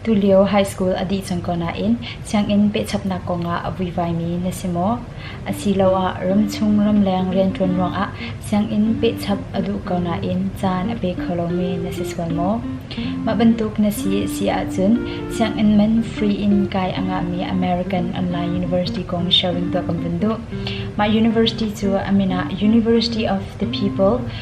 Tulio high school a dih cang ko nain sianginn pehchapnak kongah a vuivaimi na si maw? Asiloah ramchung ramleng rianṭuan ruangah sianginn pehchap a duh ko nain caan a pe kho lomi na si sual maw? Mah bantuk na si a si ahcun sianginn man free in kai a ngahmi American Online University kong sharing tuah kan vun duh. Mah university cu a min ah University of the People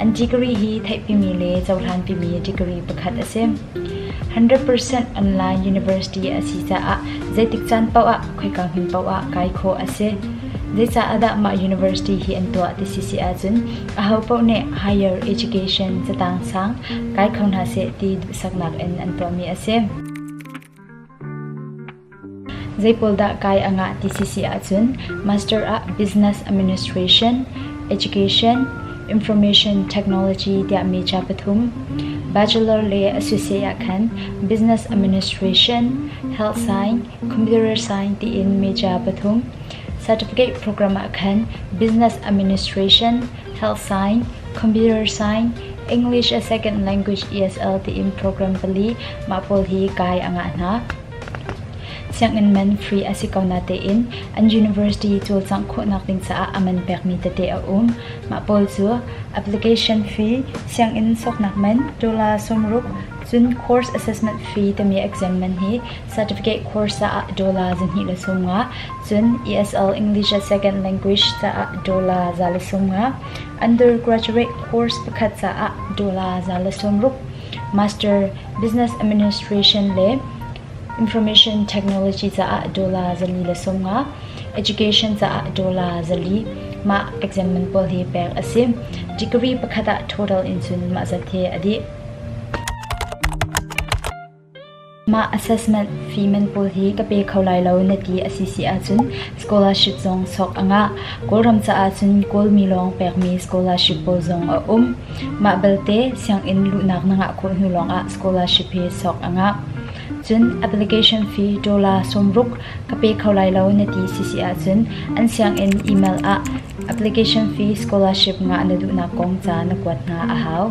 An degree hi theihpimi le cohlangpimi degree pakhat a si. 100% online university a si caah zeitik caan paoh ah khoika hmun paoh ah kai khawh a si. Zeicah dah mah university hi an tuah ti si si ahcun aho paoh nih higher education catang sang kai kho hna seh ti duhsaknak in an tuahmi a si. Zeipawl dah kai a ngah ti sisi ahcun Master ah Business Administration, Education, Information Technology tiahmi ca pathum, Bachelor le a siseh ah khan Business Administration, Health Science, Computer Science tiin mi ca pathum, Certificate program ah khan Business Administration, Health Science, Computer Science, English as Second Language ESL tiin program pali mah pawl hi kai a ngah hna. Sianginn man free a si ko natein an university cawlcangh khawhnak ding caah a man pekmi tete a um. Mah pawl cu application fee, sianginn sawknak man, dola sawmruk, cun course assessment fee timi exam man hi certificate course caah dola zahnih le sawmnga, cun ESL English as Second Language caah dola za le sawmnga, undergraduate course pakhat caah dola za le sawmruk, Master, Business Administration le Information Technology caah dollar zali le sawmnga, Education caah dollar zali mah exam man pawl hi pek a si. Degree pakhat ah total in cun mah zat hi a dih. Mah assessment fee pawl hi ka pe kho lai lo na ti a si si ahcun scholarship zong sok a ngah. Kawlram caah cun Kawlmi lawng pekmi scholarship pawl zong a um. Mah belte sianginn luhnak na ngah khawh hnu lawngah scholarship hi sok a ngah. Cun application fee dollar sawmruk ka pe kho lai lo na ti si si ahcun an sianginn email ah application fee scholarship ngah na duhnak kong ca na kuat hna a hau.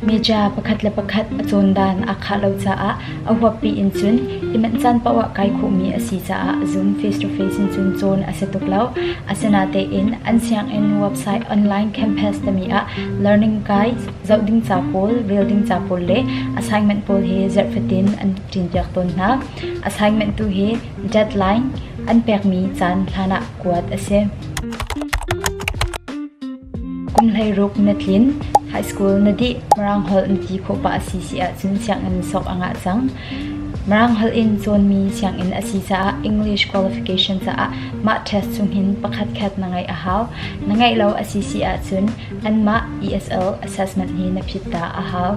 Meja pakhat le pakhat a cawn dan aa khah lo caah a huappi in cun i manh caan paoh ah kai khawhmi a si caah Zoom face to face in cun cawn a si tuk lo. Asinatein an sianginn website online campus tami ah learning guides, zoh ding ca pawl, rel ding ca pawl le assignment pawl he zarhfatin an ṭinpiak tawn hna. Assignment tu hi deadline an pekmi caan hlan ah kuat a si. Kum hleiruk na tlin, high school na dih, Mirang holh na ti khawh pah a si si ahcun sianginn sok a ngah cang. Mirang holh in cawnmi sianginn a si caah English qualification caah mah test chungin pakhatkhat na ngeih a hau. Na ngeih lo a si si ahcun anmah ESL assessment hi na phit ta a hau.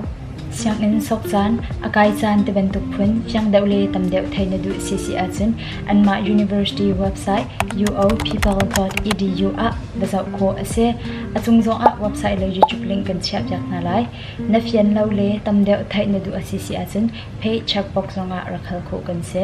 Sianginn sawk caan a kai caan ti bantuk phun fiang deuh le tam deuh theih na duh si si ahcun anmah university website uophival.edu ah va zoh khawh a si. A cung zongah website le YouTube link kan chiahpiak hna lai. Na fian lo le tam deuh theih na duh a si si ahcun page checkbox zongah rak hal khawh kan si.